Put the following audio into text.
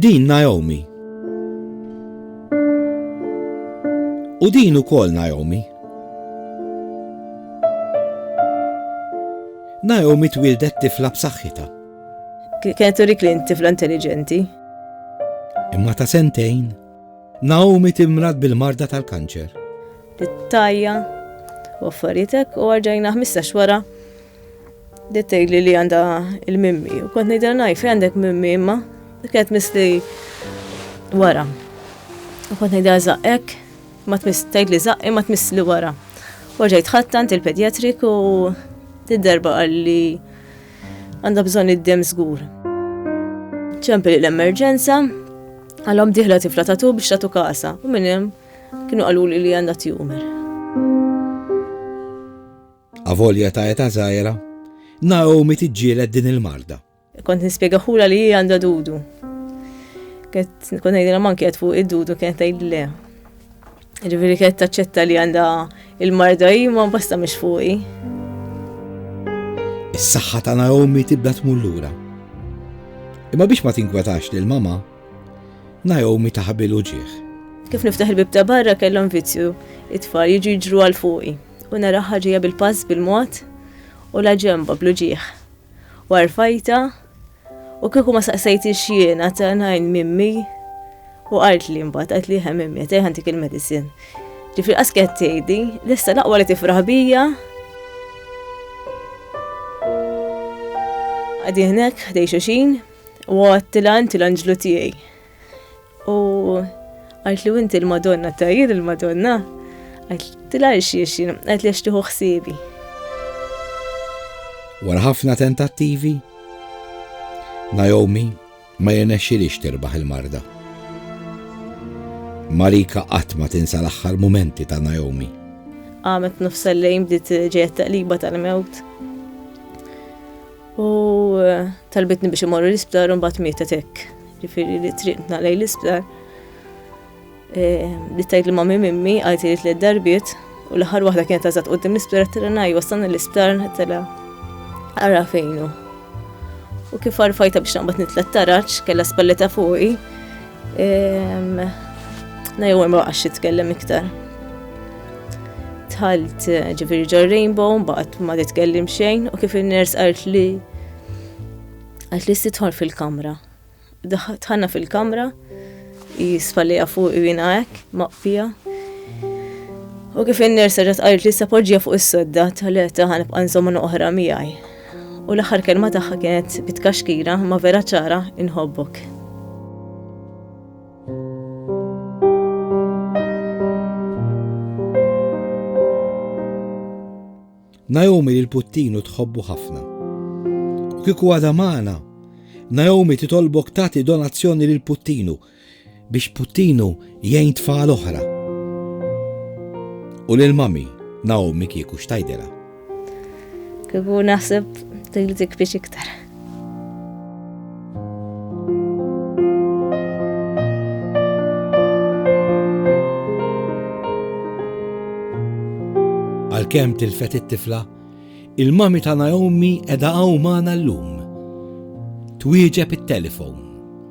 Din Naomi. U din ukoll Naomi. Naomi twildet tifla b'saħħitha. Kienet turik li tifla intelligenti. Imma ta' sentejn, Naomi timrad bil-marda tal-kanċer. It-tajja, u affarietek u għarġajna 15 wara Dittej li li għanda il-mimmi, u kont nejdra naj, fej għandek mimmi imma, kienet misli wara. U kont nejdra zaqqek, ma tmiss tgħid li zaqqi ma tmiss li wara. U ġejt ħattant il-pedjatrik u d-darba għalli għandha bżonn id-dem żgur. Ċempel l-emerġenza, għalhom diħla tifla tatu biex tatu kasa, u minn hemm kienu qaluli li għandha tjumer. Avolja ta' età żgħira, Naomi tiġġieled din il-marda. Kont nispjegaħulha li hi għandha dudu. Kont ngħidilha manki qed fuq id-dudu kienet tgħid le. Ġifieri kienet taċċetta li għandha il-marda hi ma basta mhix fuqi. Is-saħħa ta' Naomi tibda tmur lura. Imma biex ma tinkwetax lil mama, Naomi taħbil uġieħ. Kif niftaħ il-bib ta' barra kellhom vizzju it-tfal jiġu jiġru għal fuqi. U naraha ġejja bil-pass bil-mod u l-aġemba bl-uġigħ. U għarfajtha u kieku ma saqsejtix jien għad ngħin mimmi u qaltli mbagħad qaltli eħe mimmi qed ħantik il-medicine. Ġifri qas kienet tgħidi, lista l-aqwa li tifraħ bija. Għadi hnek ħdej xuxin u għattilan til-anġlu tiegħi. U għajt li inti l-Madonna ta' jien il-Madonna, għajt tila xiexin, għajt li xtiħu xsibi. Wara ħafna tentattivi, Naomi ma jenexxilix tirbaħ il-marda. Marika qatt ma tinsa l-aħħar momenti ta' Naomi. Għamet nofsa lejn bdiet ġejja taqliba tal-mewt. U talbitni biex imorru l-isptar u mbagħad mietet hekk. Ġifieri li triqna lejn l-isptar. E, li tajt li ma' mimmi għajt li tliet darbiet u l-aħħar waħda kienet tażat qudiem l-isptar tela ngħid wasalna l-isptar tela ara fejnu. U kif arfajta biex naqbad nitlet taraċ, kella spalleta fuqi, Na jew ma baqax jitkellem iktar. Tħalt eh, ġifieri ġo Rainbow mbagħad ma titkellem xejn u kif in-ners qalt li qalt li titħol fil-kamra. Tħanna fil-kamra jisfalija fuq jina hekk maqfija. U kif in-ners qalt li se poġġija fuq is-sodda tal-eta ħanibqa' nżommu oħra miegħi. U l-aħħar kelma tagħha kienet bitkaxkira ma vera ċara inħobbok. Naomi lil puttinu tħobbu ħafna. U kiku għada maħna, Naomi titolbok tati donazzjoni lil puttinu biex Puttinu jgħin tfal oħra. U lil Mami, Naomi kieku x'tgħidilha? Kieku naħseb li tikbix iktar. Għalkemm tilfet it-tifla, il-mami ta' Naomi edha hawn magħna llum. Twieġeb it-telefon.